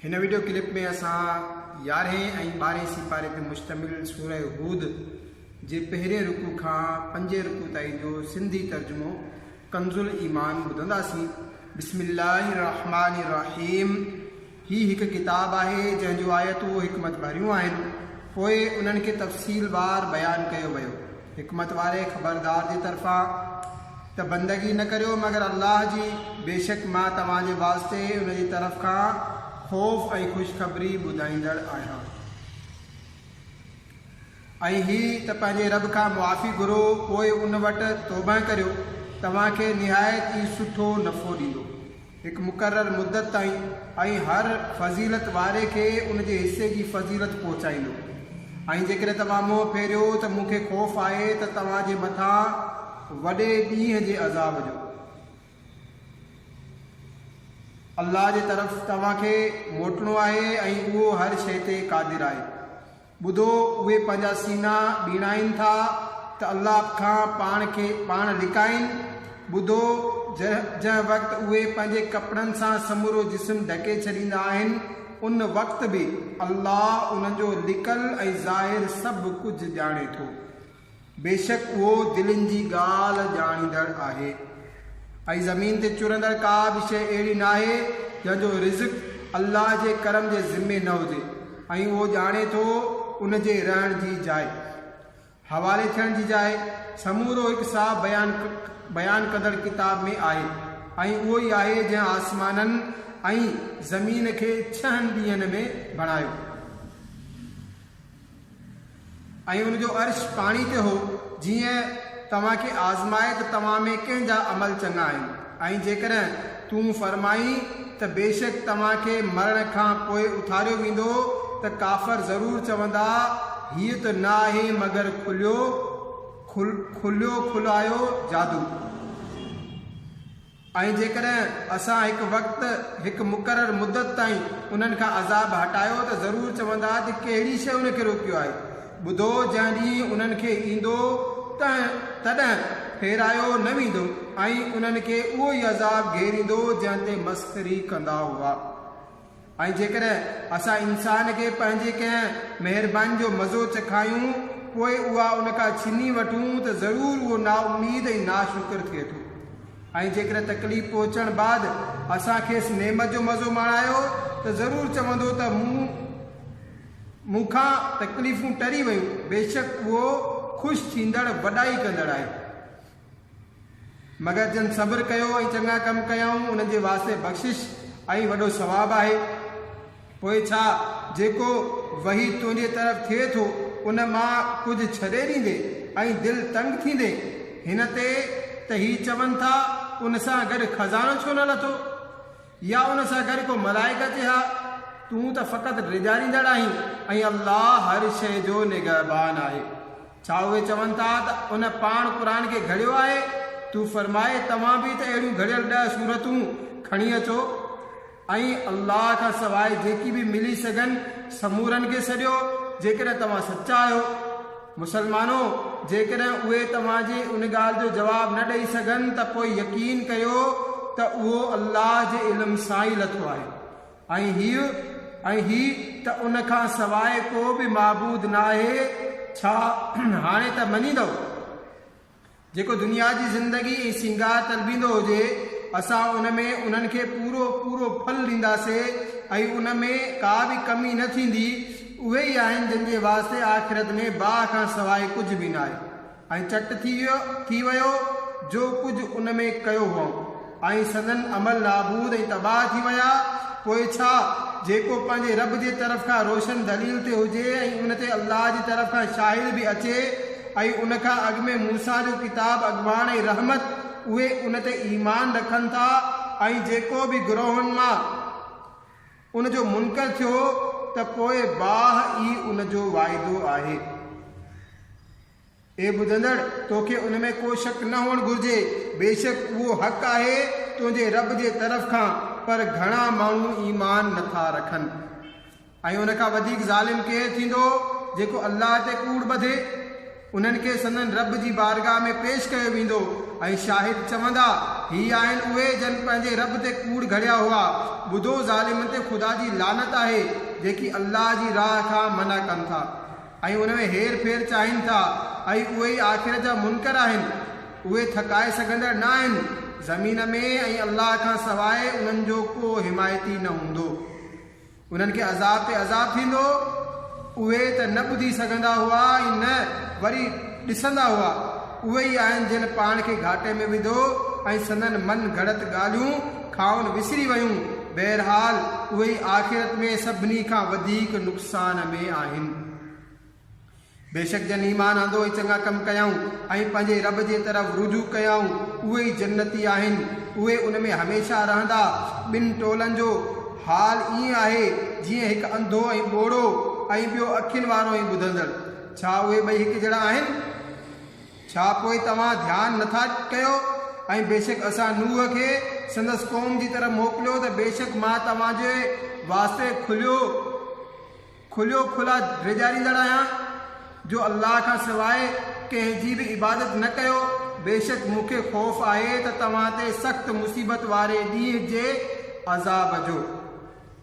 هن video clip ۾ اسان يارهين ۽ ٻارهين سيپاري تي مشتمل سوره هود جي پهرين رڪوع کان پنجين رڪوع تائين جو سنڌي ترجمو ڪنزالإيمان ٻڌنداسين بسم الله الرحمٰن الرحيم هي هڪ ڪتاب آهي جنهن جون آيتون حڪمت ڀريون آهن، پوء انهن کي تفصيل وار بيان ڪيو ويو. حڪمت واري خبردار جي طرفان، ته بندگي نه ڪريو مگر الله جي، بيشڪ مان توهان جي واسطي ان جي طرف کان خوف ۽ خوشخبري ٻڌائيندڙ آهيان. ۽ هي ته پنهنجي رب کان معافي گهرو پوء ان وٽ توبهه ڪريو، توهان کي نهايت ئي سٺو نفعو ڏيندو، هڪ مقرر مدت تائين، ۽ هر فضيلت واري کي ان جي حصي جي فضيلت پهچائيندو، ۽ جيڪڏهن توهان منهن ڦيريو ته مون کي خوف آهي ته توهان جي مٿان وڏي ڏينهن جي عذاب جو. الله جي طرف توهان کي موٽڻو آهي ۽ اهو هر شيء تي قادر آهي. ٻڌو، اهي پنهنجا سينا ٻيڻائين ٿا ته الله کان پاڻ کي پاڻ لڪائين. ٻڌو، جنهن وقت اهي پنهنجي ڪپڙن سان سمورو جسم ڍڪي ڇڏيندا آهن، ان وقت به الله انهن جو لڪل ۽ ظاهر سڀ ڪجهه ڄاڻي ٿو. بيشڪ اهو دلين جي ڳالهه ڄاڻيندڙ آهي. ۽ زمين تي چرندڙ ڪا به شيء اهڙي ناهي جنهن جو رزق الله جي ڪرم جي ذمي نه هجي ۽ اهو ڄاڻي ٿو ان جي رهڻ جي جاء، حوالي ٿيڻ جي جاء، سمورو هڪ صاف بيان بيان ڪندڙ ڪتاب ۾ آهي ۽ اهو ئي آهي جنهن آسمانن ۽ زمين کي ڇهن ڏينهن ۾ بڻايو. ۽ ان جو عرش پاڻي تي هو، جيئن توهان کي آزمائي ته توهان ۾ ڪنهن جا عمل چڱا آهن، ۽ جيڪڏهن تون فرمائين ته بيشڪ توهان کي مرڻ کان پوء اٿاريو ويندو ته ڪافر ضرور چوندا، هيء ته نه آهي مگر کليو کليو کليو کلايو جادو. ۽ جيڪڏهن اسان هڪ وقت، هڪ مقرر مدت تائين انهن کان عذاب هٽايو ته ضرور چوندا ته ڪهڙي شيء ان کي روڪيو آهي؟ ٻڌو جنهن ڏينهن انهن کي ايندو تنهن، تڏهن، ڦيرايو نه ويندو ۽ انهن کي اهو ئي عذاب گهيريندو جنهن تي مسخري ڪندا هئا. ۽ جيڪڏهن اسان انسان کي پنهنجي ڪنهن مهرباني جو مزو چکايون، پوء اها ان کان ڇني وٺون ته ضرور اهو نااميد ۽ ناشڪر ٿئي ٿو ۽ جيڪڏهن تڪليف پهچڻ بعد اسان کيس نعمت جو مزو ماڻايو ته ضرور چوندو ته مون مون کان تڪليفون ٽري ويون، بيشڪ اهو خوش ٿيندڙ وڏائي ڪندڙ آهي. مگر جن صبر ڪيو ۽ چڱا ڪم ڪيائون، انهن جي واسطي بخشش ۽ وڏو ثواب آهي. پوء ڇا جيڪو وحي تنهنجي طرف ٿئي ٿو، ان مان ڪجهه ڇڏي ڏيندين ۽ دل تنگ ٿيندين، هن تي ته هي چون ٿا، ان سان گڏ خزانو ڇو نه لٿو؟ يا ان سان گڏ ڪو ملائڪ اچي ها، تون ته فقط ڊيڄاريندڙ آهين ۽ الله هر شيء جو نگهبان آهي. ڇا اهي چون ٿا ته ان پاڻ قرآن کي گهڙيو آهي؟ تون فرماء توهان به ته اهڙيون گهڙيل ڏهه سورتون کڻي اچو ۽ الله کان سواء جيڪي به ملي سگهن سمورن کي سڏيو جيڪڏهن توهان سچا آهيو. مسلمانو! جيڪڏهن اهي توهان جي ان ڳالهه جو جواب نه ڏئي سگهن ته پوء يقين ڪيو ته اهو الله جي علم سان ئي لٿو آهي ۽ هيء ۽ هي ته ان کان سواء ڪو به معبود ناهي، ڇا هاڻي ته مڃيندؤ؟ جيڪو دنيا جي زندگي ۽ سينگار طلبيندو هجي، اسان ان ۾ انهن کي پورو پورو ڦل ڏينداسي ۽ ان ۾ ڪا به ڪمي نه ٿيندي، اهي ئي آهن جن جي واسطي آخرت ۾ باهه کان سواء ڪجهه به ناهي ۽ چٽ ٿي ويو ٿي ويو جو ڪجهه ان ۾ ڪيو هئائون. ۽ سندن عمل نابود ۽ تباهه ٿي ويا، پوء ڇا، جيڪو پنهنجي رب جي طرف کان روشن دليل تي هجي ۽ ان تي الله جي طرف کان شاهد به اچي ۽ ان کان اڳ ۾ موسيٰ جو ڪتاب اڳواڻ ۽ رحمت، اهي ان تي ايمان رکن ٿا ۽ جيڪو به گروهن مان ان جو منڪر ٿيو ته پوء باهه ئي ان جو واعدو آهي. اي ٻڌندڙ! توکي ان ۾ ڪو شڪ نه هئڻ گهرجي، بيشڪ اهو حق آهي تنهنجي رب جي طرف کان، پر گهڻا ماڻهو ايمان نٿا رکن. ۽ ان کان وڌيڪ ظالم ڪير ٿيندو جيڪو الله تي ڪوڙ ٻڌي؟ انهن کي سندن رب جي بارگاهه ۾ پيش ڪيو ويندو ۽ شاهد چوندا، هي آهن اهي جن پنهنجي رب تي ڪوڙ گهڙيا هئا. ٻڌو! ظالمن تي خدا جي لعنت آهي، جيڪي الله جي راهه کان منع ڪن ٿا. ۽ ان ۾ هير ڦير چاهين ٿا ۽ اهي ئي آخرت جا منڪر آهن اهي ٿڪائي سگهندڙ نه آهن زمين ۾ ۽ الله کان سواء انهن جو ڪو حمايتي نه هوندو انهن کي عذاب تي عذاب ٿيندو اهي ته نه ٻڌي سگهندا هئا ۽ نه وري ڏسندا هئا اهي ئي آهن جن پاڻ کي گهاٽي ۾ وڌو ۽ سندن من گهڙت ڳالهيون کائون وسري ويون، بهرحال اهي آخرت ۾ سڀني کان وڌيڪ نقصان ۾ آهن. بيشڪ جن ايمان آندو ۽ چڱا ڪم ڪيائون ۽ پنهنجي رب جي طرف رجوع ڪيائون، اهي ئي جنتي آهن، اهي ان ۾ هميشه رهندا، ٻن ٽولن جو حال ائين آهي، جيئن هڪ انڌو ۽ ٻوڙو ۽ ٻيو اکين وارو ۽ ٻڌندڙ، ڇا اهي ٻئي هڪجهڙا آهن؟ ڇا پوء توهان ڌيان نه ٿا ڪيو؟ ۽ بيشڪ اسان نوح کي سندس قوم جي طرف موڪليو ته بيشڪ مان توهان جي واسطي کليو کليو کلا ڊيڄاريندڙ آهيان جو الله کان سواء ڪنهن جي به عبادت نه ڪيو بيشڪ مون کي خوف آهي ته توهان تي سخت مصيبت واري ڏينهن جي عذاب جو.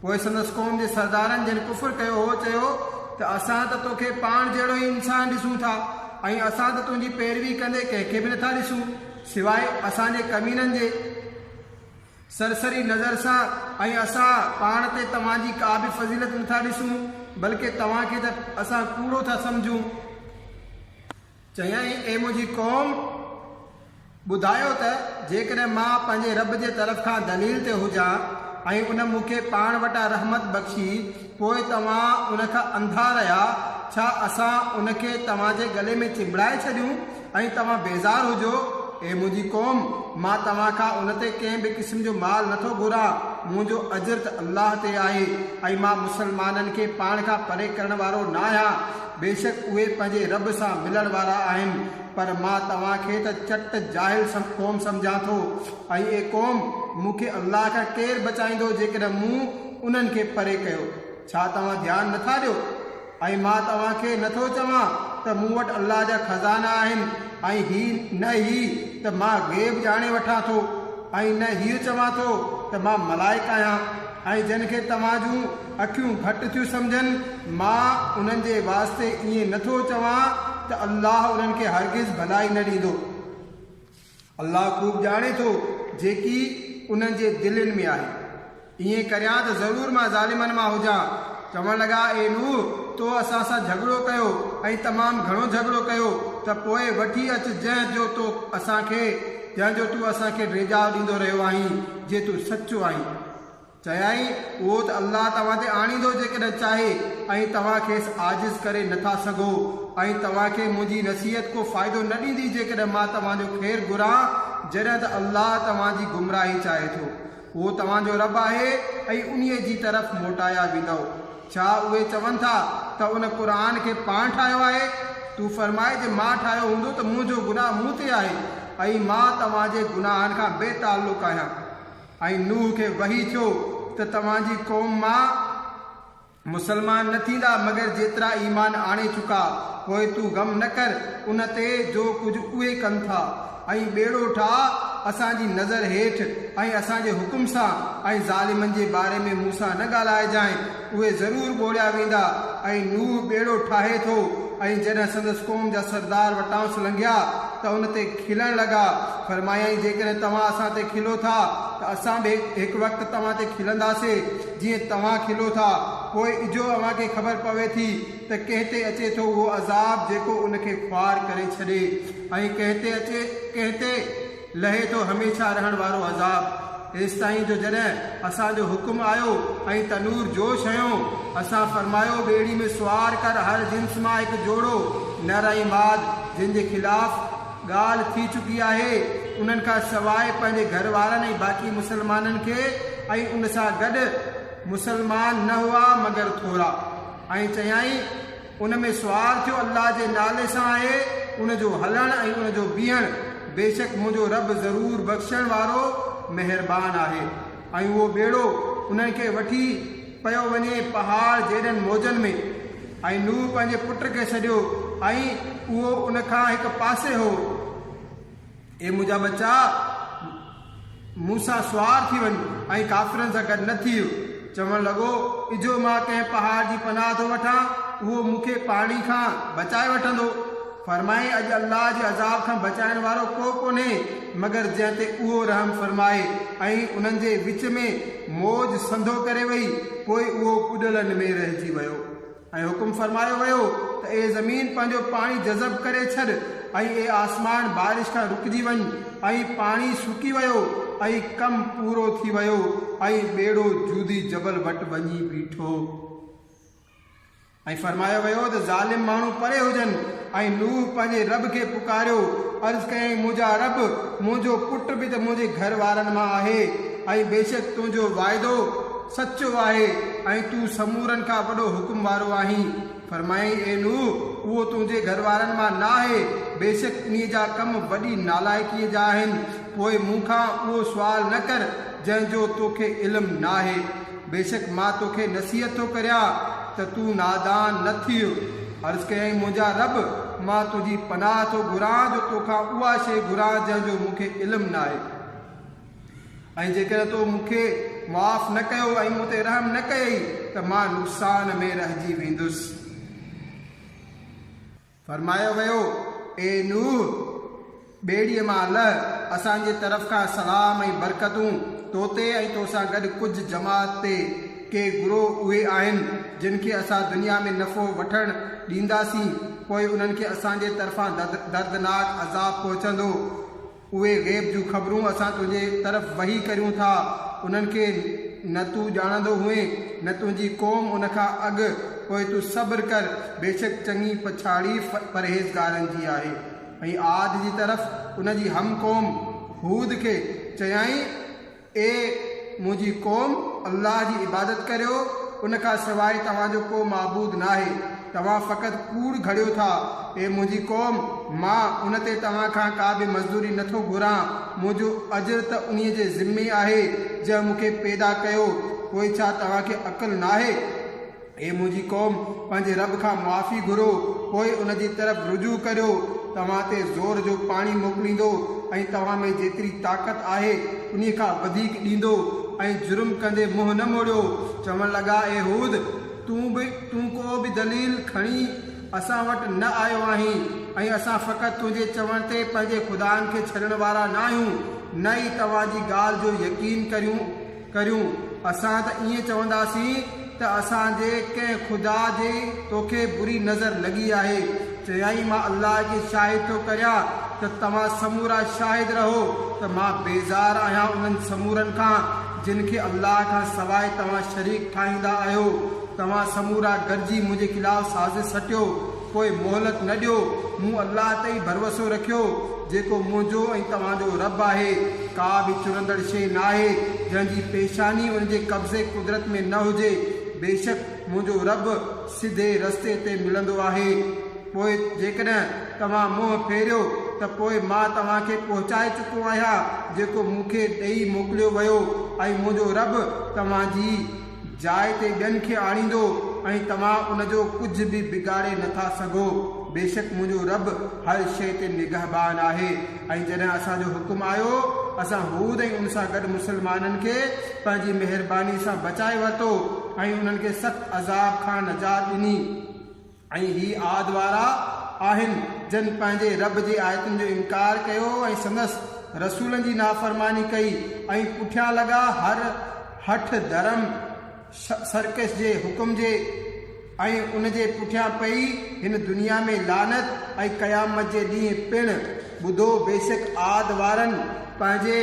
پوء سندس قوم جي سردارن جن ڪفر ڪيو هو چيو ته اسان ته توکي پاڻ جهڙو ئي انسان ڏسون ٿا ۽ اسان ته تنهنجي پيروي ڪندي ڪنهن کي به نٿا ڏسون سواء اسان جي ڪمينن جي سرسري نظر سان ۽ اسان پاڻ تي توهان جي ڪا به فضيلت نٿا ڏسون بلڪه توهان کي ته اسان ڪوڙو ٿا سمجهون. چيائين، اي منهنجي قوم! ٻڌايو ته جيڪڏهن مان پنهنجي رب جي طرف کان دليل تي هجان ۽ ان مون کي پاڻ وٽان رحمت بخشي، پوء توهان ان کان انڌا رهيا، ڇا اسان ان کي توهان جي ڳلي ۾ چنبڙائي ڇڏيون ۽ توهان بيزار هجو؟ اي منهنجي قوم! مان توهان کان ان تي ڪنهن به قسم جو مال نه ٿو گهران، منهنجو اجر ته الله تي آهي ۽ مان مسلمانن کي پاڻ کان پري ڪرڻ وارو ناهيان، بيشڪ اهي پنهنجي رب سان ملڻ وارا آهن، پر مان توهان کي ته چٽ جاهل قوم سمجهان ٿو ۽، اي قوم! مون کي الله کان ڪير بچائيندو جيڪڏهن مون انهن کي پري ڪيو؟ ڇا توهان ڌيان نه ٿا ڏيو؟ ۽ مان توهان کي نه ٿو چوان ته مون وٽ الله جا خزانا آهن ۽ هي نه هي ته مان غيب ڄاڻي وٺان ٿو ۽ نه هيء چوان ٿو ته مان ملائڪ آهيان ۽ جن کي توهان جون اکيون گهٽ ٿيون سمجهن، مان انهن جي واسطي ائين نه ٿو چوان ته الله انهن کي هرگز ڀلائي نه ڏيندو. الله خوب ڄاڻي ٿو جيڪي انهن جي دلين ۾ آهي. ائين ڪريان ته ضرور مان ظالمن مان هجان. چوڻ لڳا، اي نوح! تو اسان سان جهڳڙو ڪيو ۽ تمام گهڻو جهڳڙو ڪيو ته پوء وٺي اچ جنهن جو تو اسان کي، جنهن جو تون اسان کي ڊيڄاء ڏيندو رهيو آهين، جي تون سچو آهين. چيائين، اهو ته الله توهان تي آڻيندو جيڪڏهن چاهي ۽ توهان کيس عاجز ڪري نه ٿا سگهو ۽ توهان کي منهنجي نصيحت ڪو فائدو نه ڏيندي جيڪڏهن مان توهان جو خير گهران جڏهن ته الله توهان جي گمراهي چاهي ٿو. اهو توهان جو رب آهي ۽ انهيء جي طرف موٽايا ويندؤ. ڇا اهي چون ٿا ته ان، قرآن، کي پاڻ ٺاهيو آهي؟ تون فرماء جي مان ٺاهيو هوندو ته منهنجو گناهه مون تي آهي ۽ مان توهان جي گناهن کان بي تعلق آهيان. ۽ نوح کي وحي ٿيو ته توهان جي قوم مان مسلمان نه ٿيندا مگر جيترا ايمان آڻي چڪا، پوء تون غم نه ڪر ان تي جو ڪجهه اهي ڪن ٿا، ۽ ٻيڙو ٺاهه اسان جي نظر هيٺ ۽ اسان جي حڪم سان، ۽ ظالمن جي باري ۾ مون سان نه ڳالهائجانء. اهي ضرور ٻوڙيا ويندا ۽ نوح ٻيڙو ٺاهي ٿو ۽ جڏهن سندس قوم جا سردار وٽانئس لنگهيا ته ان تي کلڻ لڳا، فرمايائين، جيڪڏهن توهان اسان تي کلو ٿا ته اسان به هڪ وقت توهان تي کلنداسي جيئن توهان کلو ٿا، پوء اجهو اوهان کي خبر پوي ٿي ته ڪنهن تي اچي ٿو اهو عذاب جيڪو ان کي خوار ڪري ڇڏي ۽ ڪنهن تي اچي ڪنهن تي. لهي ٿو هميشه رهڻ وارو عذاب ايستائين جو جڏهن اسان جو حڪم آيو ۽ تنور جوش هنيو اسان فرمايو ٻيڙي ۾ سوار ڪر هر جنس مان هڪ جوڙو نر ۽ ماد جن جي خلاف ڳالهه ٿي چڪي آهي انهن کان سواء پنهنجي گهر وارن ۽ باقي مسلمانن کي ۽ ان سان گڏ مسلمان نه هئا مگر ٿورا ۽ چيائين ان ۾ سوال ٿيو، الله جي نالي سان آهي ان جو هلڻ ۽ ان جو بيهڻ، بيشڪ منهنجو رب ضرور بخشڻ وارو مهربان آهي ۽ اهو ٻيڙو انهن کي وٺي پيو وڃي پهاڙ جيڏن موجن ۾، ۽ نوح پنهنجي پٽ کي سڏيو ۽ اهو ان کان هڪ پاسي هو. اي منهنجا ٻچا! مون سان سوار ٿي وڃ ۽ ڪافرن سان گڏ نه ٿيء. چوڻ لڳو، اجهو مان ڪنهن پهاڙ جي پناهه ٿو وٺان، اهو مون کي پاڻي کان بچائي وٺندو. فرمايائين، اڄ الله جي عذاب کان بچائڻ وارو ڪو ڪونهي مگر جنهن تي اهو رحم فرمائي ۽ انهن جي وچ ۾ موج سنڌو ڪري وئي، پوء اهو ٻڏلن ۾ رهجي ويو. ۽ حڪم فرمايو ويو ته اي زمين پنهنجو پاڻي جذب ڪري ڇڏ ۽ اي آسمان بارش کان رڪجي وڃ ۽ پاڻي سڪي ويو ۽ ڪم پورو ٿي ويو ۽ ٻيڙو جودي جبل وٽ وڃي بيٺو ۽ فرمايو ويو ته ظالم ماڻهو پري هجن ۽ نوح پنهنجي رب کي پڪاريو عرض ڪيائين منهنجا رب منهنجو پٽ به ته منهنجي گهر وارن مان آهي ۽ بيشڪ تنهنجو واعدو سچو آهي ۽ تون سمورن کان وڏو حڪم وارو آهين. فرمايائين، اي نوح! اهو تنهنجي گهر وارن مان نه آهي، بيشڪ انهيء جا ڪم وڏي نالائقيء جا آهن، پوء مون کان اهو سوال نه ڪر، جنهن جو تو کي علم نه آهي. بيشڪ مان تو کي نصيحت ٿو ڪريان ته تون نادان نه ٿيء. عرض ڪيائين، منهنجا رب! مان تنهنجي پناهه ٿو گهران جو تو کان اها شيء گهران جنهن جو مون کي علم نه آهي. ۽ جيڪڏهن تو مون کي معاف نه ڪيو ۽ مون تي رحم نه ڪيئي ته مان نقصان ۾ رهجي ويندس. فرمايو ويو، اي نوح! ٻيڙيء مان لهه، اسان جي طرف کان سلام ۽ برڪتون تو تي ۽ تو سان گڏ ڪجهه جماعت تي. ڪي گروهه اهي آهن، جن کي اسان دنيا ۾ نفعو وٺڻ ڏينداسين، پوء انهن کي اسان جي طرفان دردناڪ عذاب پهچندو. اهي غيب جون خبرون اسان تنهنجي طرف وحي ڪريون ٿا، انهن کي نه تون ڄاڻندو هئين، نه تنهنجي قوم ان کان اڳ، پوء تون صبر ڪر، بيشڪ چڱي پڇاڙي پرهيزگارن جي آهي. ۽ عاد جي طرف ان جي هم قوم هود کي چيائين، اي منهنجي قوم! الله جي عبادت ڪريو، ان کان سواء توهان جو ڪو معبود ناهي، توهان فقط ڪوڙ گهڙيو ٿا. اي منهنجي قوم! مان ان تي توهان کان ڪا به مزدوري نه ٿو گهران، منهنجو اجر ته انهيء جي ذمي آهي، جنهن مون کي پيدا ڪيو، پوء ڇا توهان کي عقل ناهي؟ اي منهنجي قوم! پنهنجي رب کان معافي گهرو، پوء ان جي طرف رجوع ڪريو، توهان تي زور جو پاڻي موڪليندو ۽ توهان ۾ جيتري طاقت آهي انهي کان وڌيڪ ڏيندو ۽ جرم ڪندي منهن نه موڙيو. چوڻ لڳا، اي هود! تون به تون ڪو به دليل کڻي اسان وٽ نه آيو آهين ۽ اسان فقط تنهنجي چوڻ تي پنهنجي خدائن کي ڇڏڻ وارا ناهيون، نه ئي توهان جي ڳالهه جو يقين ڪريون. ڪريون اسان ته ائين چونداسين ته اسان جي ڪنهن خدا جي توکي بري نظر لڳي آهي چيائين مان الله جي شاهد ٿو ڪريان ته توهان سمورا شاهد رهو ته مان بيزار آهيان انهن سمورن کان جن کي الله کان سواء توهان شريڪ ٺاهيندا آهيو توهان سمورا گڏجي منهنجي خلاف سازش سٽيو پوء مهلت نه ڏيو، مون الله تي ئي ڀروسو رکيو، جيڪو منهنجو ۽ توهان جو رب آهي، ڪا به چرندڙ شيء ناهي، جنهن جي پيشاني ان جي قبضي قدرت ۾ نه هجي، بيشڪ منهنجو رب سڌي رستي تي ملندو آهي، پوء جيڪڏهن توهان منهن ڦيريو ته پوء مان توهان کي پهچائي چڪو آهيان جيڪو مون کي ڏيئي موڪليو ويو ۽ منهنجو رب توهان جي جاء تي ٻين کي آڻيندو ۽ توهان ان جو ڪجهه به بگاڙي نه ٿا سگهو، بيشڪ منهنجو رب هر شيء تي نگهبان آهي ۽ جڏهن اسان جو حڪم آيو، اسان هود ۽ ان سان گڏ مسلمانن کي پنهنجي مهربانيء سان بچائي ورتو ۽ انهن کي سخت عذاب کان نجات ڏني. ۽ هي عاد وارا آهن جن پنهنجي رب جي آيتن جو انڪار ڪيو ۽ سندس رسولن جي نافرماني ڪئي ۽ پٺيان لڳا هر هٺ ڌرم سرڪش جي حڪم جي ۽ ان جي پٺيان پئي هن دنيا ۾ لعنت ۽ قيامت جي ڏينهن پڻ ٻڌو بيشڪ عاد وارن پنهنجي